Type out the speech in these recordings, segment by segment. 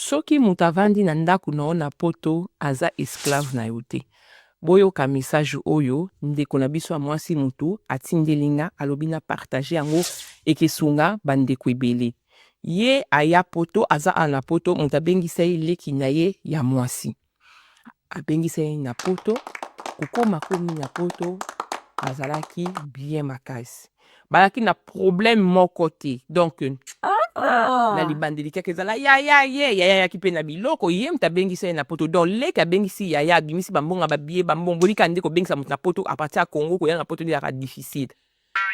Soki mutu avandi na ndaku na yo na poto aza esclave na yo te. Boyoka message oyo ndeko na biso ya mwasi mutu atindeli nga alobi na partager yango ekesunga ba ndeko ebele. Ye aya poto aza awa na poto mutu abengisa ye leki na ye ya mwasi. Abengisa ye na poto kokoma komi na poto azalaki bien makasi balaki na problème moko te donc ah. na libandeli kaka ezala yaya ye yaya ayaki mpe na biloko ye moto abengisa ye na poto donc leki abengisi yaya abimisi bambonga babie bambongo bonika nde kobengisa moto na poto apartir ya congo koya na poto nde ezalaka difficile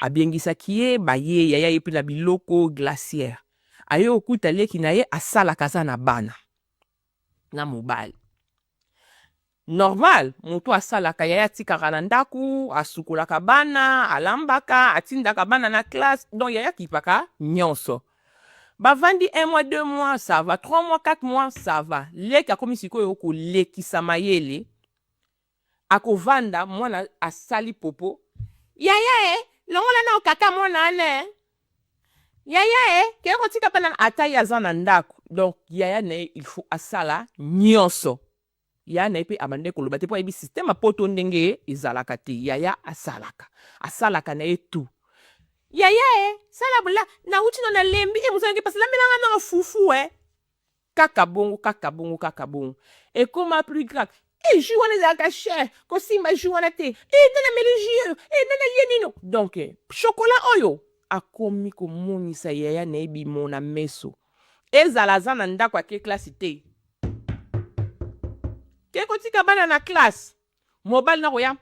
abengisaki ye baye yaya ye mpe na biloko glacière aye okuta leki na ye asalaka aza na bana na mobali normal mutu asalaka yaya atikaka na ndaku asukolaka bana alambaka atindaka bana na classe donc yaya akipaka nyonso bavandi un mois deux mois ça va trois mois quatre mois ça va leki akomi sikoyo kolekisa mayele Akovanda mwana asali popo. Yaya eh longola nao kaka mwana wana eh. Yaya eh kende kotika bana na ata ye aza na ndako donc yaya na ye il faut asala nionso. Yaya na ye pe abandaki koloba te po ayebi système ya poto ndenge ezalaka te yaya asalaka asalaka na ye tout. Yaya eh sala bla nawuti nao nalembi eh mosala nake pasi lambela nga nao fufu eh. Kaka bongo, kaka bongo, kaka bongo. Ekoma plus grave. Eh, jus wana ezalaka cher. Kosimba jus wana te. Eh, nani ameli jus oyo? Eh, nani alie nino? Donc, eh, chocolat oyo akomi komonisa yaya na ye bimona meso. Ezala aza na ndako ake classe te. Ke kotika bana na classe. Mobali na koya.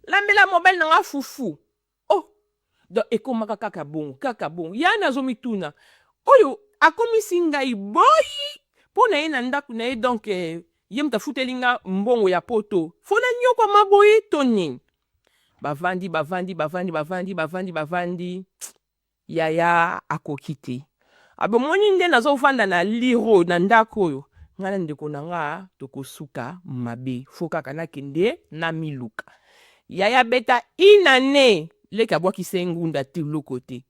Lambela mobali na nga fufu. oh donc ekomaka kaka bongo kaka bongo ya nazo mituna oyo akomisi ngai boyi mpo na ye na ndako na ye donc eh, ye moto afuteli nga mbongo ya poto fo na nyokwama boye to nini bavandi bavandi bavandi bavandi bavandi bavandi Yaya akoki te ah bomoni nde nazo vanda na liro na ndaku oyo nga na ndeko na nga toko suka mabe faut kaka na kende na miluka yaya abeta une annee leki abwaki se ngunda te eloko te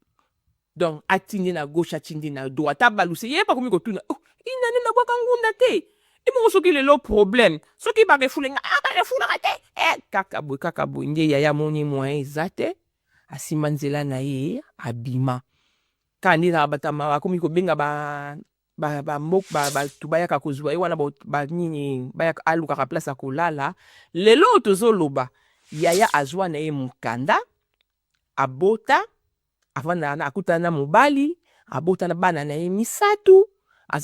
donc atindi na gauche atindi na droite abaluse ye bakomi kotuna oh, une annee nabwaka ngunda te ebongo soki lelo problème soki ba refoule nga ah ba refoulaka te eh kaka boye kaka boye nde yaya amoni moyen eza te asimba nzela na ye abima. Kaka nde na bato bakomi kobenga ba bato bayaka kozwa ye wana banini bayaka alukaka place ya kolala. Lelo oyo tozoloba yaya azwa na ye mokanda, abota, afandaka na akutana na mobali, abota na bana na ye misato.